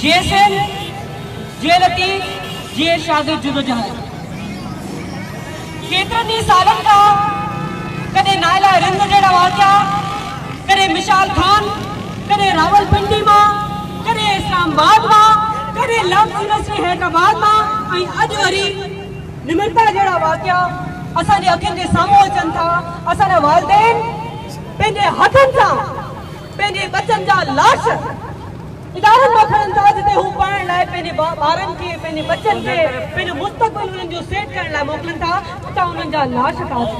جي S L جي لطيف جي شاگرد جدوجهد ڪيترن ئي سالن کان ڪڏهن نائلا رند جهڙا واقعا ڪڏهن مشال خان ڪڏهن راولپنڊي مان ڪڏهن اسلام آباد مان ڪڏهن لفظ يونيورسٽي حيدرآباد مان ۽ اڄ وري نمرتا جهڙا واقعا اسان جي اکين جي سامهون اچن ٿا، اسان جا والدين پنهنجي هٿن سان پنهنجي ٻچن جا لاش ادارن مان کڻن ٿا جتي هو پڙهڻ لاء پنهنجي ٻارن کي پنهنجي ٻچن کي پنهنجو مستقبل انهن جو سيٽ ڪرڻ لاء موڪلن ٿا اتان انهن جا لاش ٿا اچن.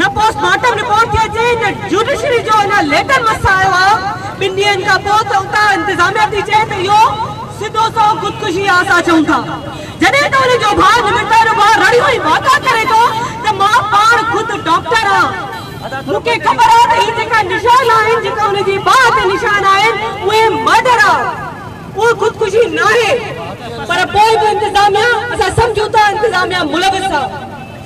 نه پوسٽ مارٽم رپورٽ ٿي اچي نه جوڊيشري جو اڃا ليٽر مس آيو آ ٻن ڏينهن کان پوء ته اتان انتظاميه ٿي چئي ته اهو سڌو سنئون خودڪشي آ اسان چئون ٿا جڏهن ته ان جو ڀاء نمرتا جو ڀاء رڙيون ۽ واڪا ڪري ٿو ته مان پاڻ خود ڊاڪٽر آ مون کي خبر آ ته هي جيڪا نشان آهن جيڪا ان جي ٻانهن تي نشان آهن اهي مرڊر آ اهي خودڪشي ناهي پر پوء به انتظاميه اسان سمجهون ٿا انتظاميه ملوث آ.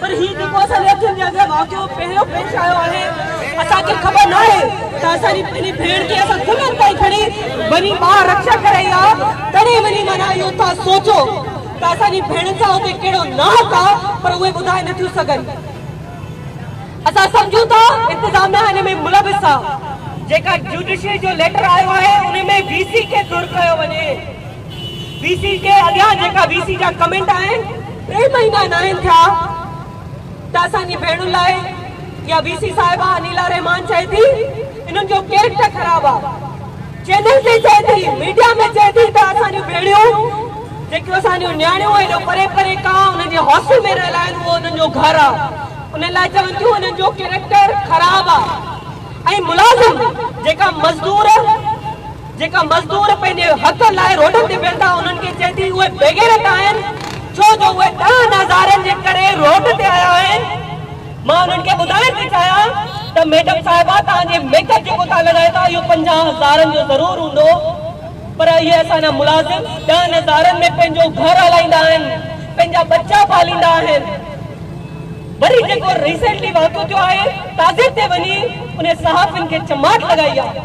پر هي جيڪو اسان جي اکين جي اڳيان واقعو پهريون پيش آيو آهي اسان کي خبر ناهي ته اسان جي پنهنجي ڀيڻ کي اسان ٿلهن تائين کڻي وڃي ٻاهر رڪشا ڪرائي ها تڏهن وڃي معنيٰ اهو ٿا سوچو ته اسان جي ڀيڻن سان اتي ڪهڙو ناحق آ پر اهي ٻڌائي نه ٿيون سگهن اسان سمجهون ٿا انتظاميا هن ۾ ملوث آ جيڪا جوڊيشري جو ليٽر آيو آهي ان ۾ وي سي کي ڌر ڪيو وڃي. وي سي ڪي اڳيان جيڪا وي سي جا ڪمينٽ آهن ٽي مهينا ناهن ٿيا ته اسان جي ڀيڻن لاء يا وي سي صاحبه انيلا رحمان چئي ٿي انهن جو ڪيريڪٽر خراب آ چينل تي چئي ٿي ميڊيا ۾ چئي ٿي ته اسان جون ڀيڻيون جيڪيون اسان جون نياڻيون ايڏو پري پري ڪا انهن جي هاسٽل ۾ رهيل آهن اهو انهن جو گهر آ انهن لاء چون ٿيون انهن جو ڪيريڪٽر خراب آ ۽ ملازم جيڪا مزدور جيڪا مزدور پنهنجي حق لاء روڊن تي ويهن ٿا انهن کي چئي ٿي اهي بيغيرت آهن ڇو جو اهي ڏهن هزارن جي ڪري روڊ تي آيا آهن مان انهن کي ٻڌائڻ ٿي چاهيان ته ميڊم صاحبه توهان جي ميڪ اپ جيڪو توهان لڳايو ٿا اهو پنجاهه هزارن جو ضرور هوندو پر اهي اسان جا ملازم ڏهن هزارن ۾ پنهنجو گهر هلائيندا آهن پنهنجا ٻچا پاليندا آهن وري جيڪو ريسينٽلي واقعو ٿيو آهي تازي تي وڃي انهي صحافين کي چماٽ لڳائي آهي.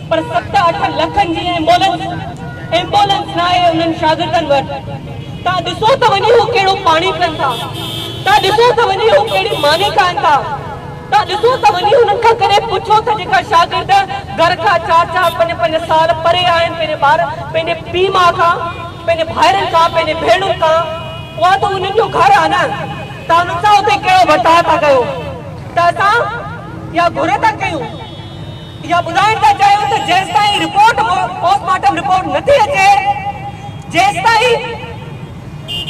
پر ست اٺ لکن جي ايمبولنس ايمبولنس ناهي انهن شاگردن وٽ تان ڏسو ته وڃي هو ڪهڙو پاڻي پين ٿا تان ڏسو ته وڃي هو ڪهڙي ماني کائن ٿا تان ڏسو ته وڃي هنن کان ڪڏهن پڇو ته جيڪا شاگرد گهر کان چار چار پنج پنج سال پري آهن پنهنجي ٻار پنهنجي پي ماء کان پنهنجي ڀائرن کان پنهنجي ڀيڻن کان اها ته انهن جو گهر آهي نه تان انهن سان اتي ڪهڙو ورتاء ٿا ڪيو ته اسان اها گهر ٿا ڪيون. اها ٻڌائڻ ٿا چاهيون ته جيستائين رپورٽ پوسٽ مارٽم رپورٽ نه ٿي اچي جيستائين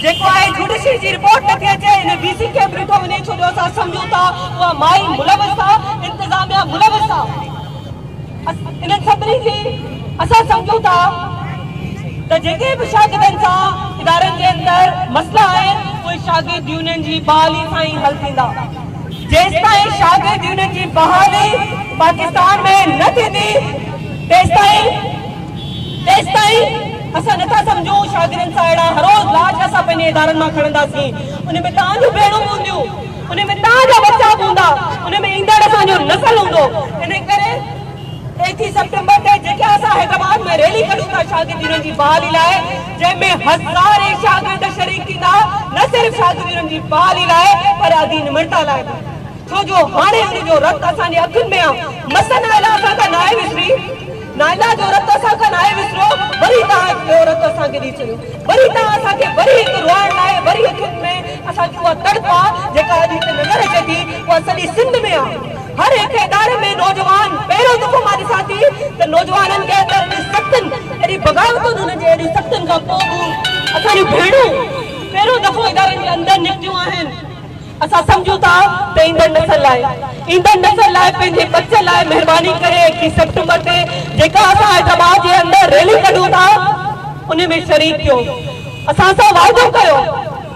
جيڪو آهي جوڊيشري جي رپورٽ نه ٿي اچي ان ڊي سي ڪيمپ ڏٺو وڃي ڇو جو اسان سمجهون ٿا اها مائي ملوث آهي انتظاميا ملوث آهي انهن سڀني جي اسان سمجهون ٿا ته جيڪي به شاگردن سان ادارن جي اندر مسئلا آهن اهي شاگرد يونين جي بحالي سان ئي حل ٿيندا جيستائين شاگرد يونين جي بحالي پاڪستان ۾ نه ٿيندي تيستائين تيستائين اسان نٿا سمجهون شاگرن سان اهڙا هروز لاچ اسان پنهنجي ادارن مان کڻنداسين ان ۾ توهان جون ڀيڻون به هونديون ان ۾ توهان جا ٻچا به هوندا ان ۾ ايندڙ اسان جو نسل هوندو ان ڪري ايڪيهه سيپٽمبر تي جيڪا اسان حيدرآباد ۾ ريلي ڪڍون ٿا شاگرد يونين جي بحالي لاء جنهن ۾ هزارين شاگرد شريڪ ٿيندا، نه صرف شاگردي انهن جي بحالي لاء پر ادي نمرتا لاء به، ڇو جو هاڻي ان جو رت اسان جي اکين ۾ آ، مس نائلا اسان کان ناهي وسري، نائلا جو رت اسان کان ناهي وسريو، وري توهان هڪ ٻيو رت اسان کي ڏئي ڇڏيو، وري توهان اسان کي وري هڪ روئڻ لاء، وري اکين ۾ اسان جي اها تڙپ آ، جيڪا اڄ هتي نظر اچي ٿي، اها سڄي سنڌ ۾ آ. هر هڪ اداري ۾ نوجوان پهريون دفعو مان ڏسان ٿي ته نوجوانن کي اهڙي اهڙين سختين اهڙين بغاوتن انهن جي اهڙين سختين کان پوء به اسان جون ڀيڻون پهريون دفعو ادارن جي اندر نڪتيون آهن اسان سمجهون ٿا ته ايندڙ نسل لاء ايندڙ نسل لاء پنهنجي ٻچن لاء مهرباني ڪري ايڪٽيهه سيپٽمبر تي جيڪا اسان حيدرآباد جي اندر ريلي ڪڍون ٿا ان ۾ شريڪ ٿيو اسان سان واعدو ڪيو.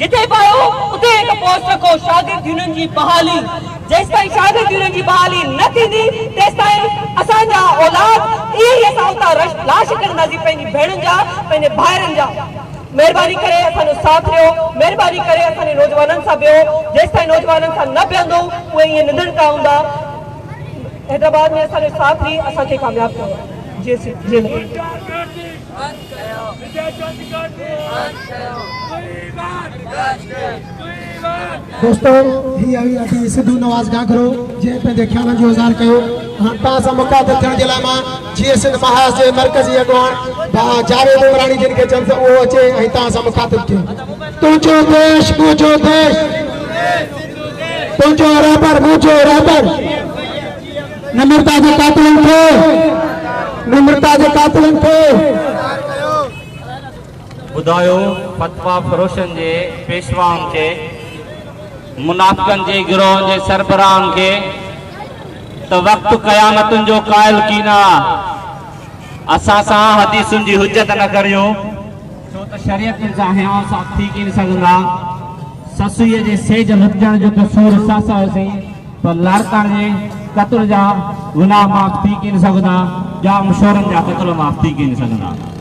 جتي پايو اتي هڪ پوسٽ رکو شاگرد يونين جي بحالي جيستائين شاگرد يونين جي بحالي نه ٿيندي تيستائين اسان جا اولاد ايئن ئي اسان اتان رش لاش ڪڍنداسين پنهنجي ڀيڻن جا پنهنجي ڀائرن جا مهرباني ڪري اسان جو ساٿ ڏيو مهرباني ڪري اسان جي نوجوانن سان بيهو جيستائين نوجوانن سان نه بيهندو اهي ايئن نڌڻڪا هوندا حيدرآباد ۾ اسان جو ساٿ ڏئي اسان کي ڪامياب ڪيو جي سنڌ جي لاء. دوستو هي آهي اسان سڌو نواز گاگرو جنهن پنهنجي خيالن جو اظهار ڪيو هاڻ توهان سان مخاطب ٿيڻ جي لاء مان جي ايس اين محاذ جي مرڪزي اڳواڻ بها جاويد عمراڻي جن کي چون ته اهو اچي ۽ توهان سان مخاطب ٿين تنهنجو ديش منهنجو ديش تنهنجو رهبر منهنجو رهبر نمرتا جي قاتلن کي نمرتا جي قاتلن کي ٻڌايو فتوا فروشن جي پيشوائن کي منافقن جي گروهن جي سربراهن کي ته وقت قيامتن جو قائل ڪين آ اسان سان حديثن جي حجت نه ڪريو ڇو ته شريعت جا هيان صاحب ٿي ڪين سگهندا سسويء جي سيج لڪجڻ جو ته سور سس هئسين پر لاڙڪاڻي جي قتل جا گناهه معاف ٿي ڪين سگهندا، ڄام شورن جا قتل معاف ٿي ڪين سگهندا.